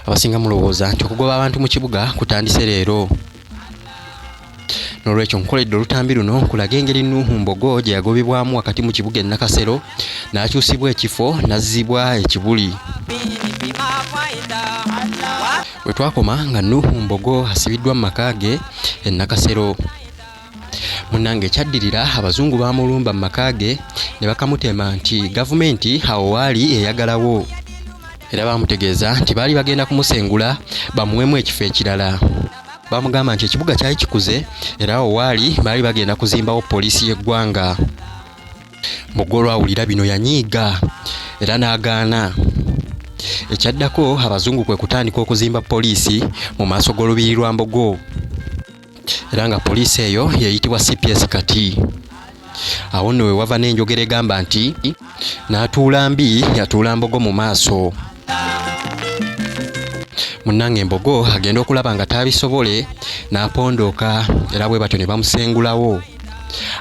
abasinga mulowooza nti okugoba abantu mu kibuga kutandise leero nolwekyo nkukoledde olutambi luno nkulaga engeri nuuhu mbogo gye yagobebwamu wakati mu kibuga enakasero n'akyusibwa ekifo n'azzibwa ekibuli we twakoma nga nuuhu mbogo asibiddwa mu maka ge enakasero munnange ekyaddirira abazungu baamulumba mu maka ge ne bakamutema nti gavumenti awo waali eyagalawo era baamutegeeza nti baali bagenda kumusengula bamuwemu ekifo ekirala baamugamba nti ekibuga kyali kikuze era awo waali baali bagenda kuzimbawo poliisi y'eggwanga mugga olwawulira bino yanyiiga era n'agaana ekyaddako abazungu kwe kutandika okuzimba poliisi mu maaso g'olubiri lwa mbogo era nga poliisi eyo yeyitibwa cps kati awo nno wewava n'enjogera egamba nti n'atuula mbi yatuula mbogo mu maaso munnange embogo agenda okulaba nga taabisobole n'apondooka era bwe batyo ne bamusengulawo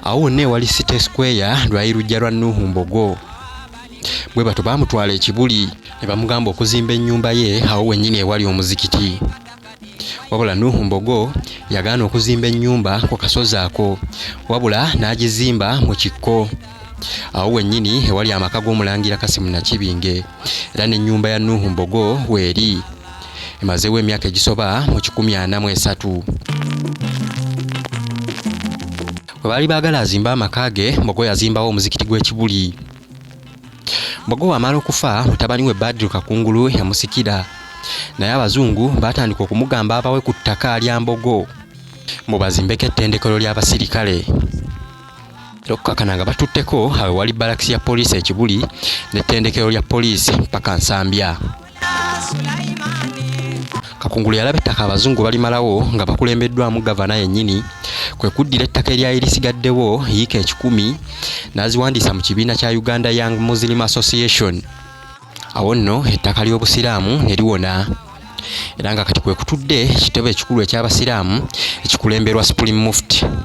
awo wonna ewali city square lwali lujja lwa nuuhu mbogo bwe batyo baamutwala ekibuli ne bamugamba okuzimba ennyumba ye awo wennyini ewali omuzikiti wabula nuhu mbogo yagaana okuzimba ennyumba ku kasozi ako wabula n'agizimba mu kikko awo wennyini ewali amaka g'omulangira kasimu nakibinge era n'ennyumba ya nuhu mbogo weeri emazeewo emyaka egisoba mu kikumi ana mu esatu bwe baali baagala azimbe amaka ge mbogo yazimbawo omuzikiti gw'ekibuli mbogo wamala okufa mutabani we badru kakungulu yamusikira naye abazungu baatandika okumugamba abawe ku ttaka lya mbogo mubazimbeko ettendekero ly'abasirikale okukakana nga batutteko awe wali balakisi ya poliisi ekibuli n'ettendekero lya poliisi mpaka nsambya Kakungulu yalaba ettaka abazungu balimalawo nga bakulembeddwamu gavana yennyini kwe kuddira ettaka eryali lisigaddewo yiika ekikumi n'aziwandiisa mu kibiina kya Uganda Young Muslim Association awo nno ettaka ly'obusiraamu ne liwona era nga kati kwe kutudde ekitebe ekikulu eky'abasiraamu ekikulemberwa Supreme Mufti.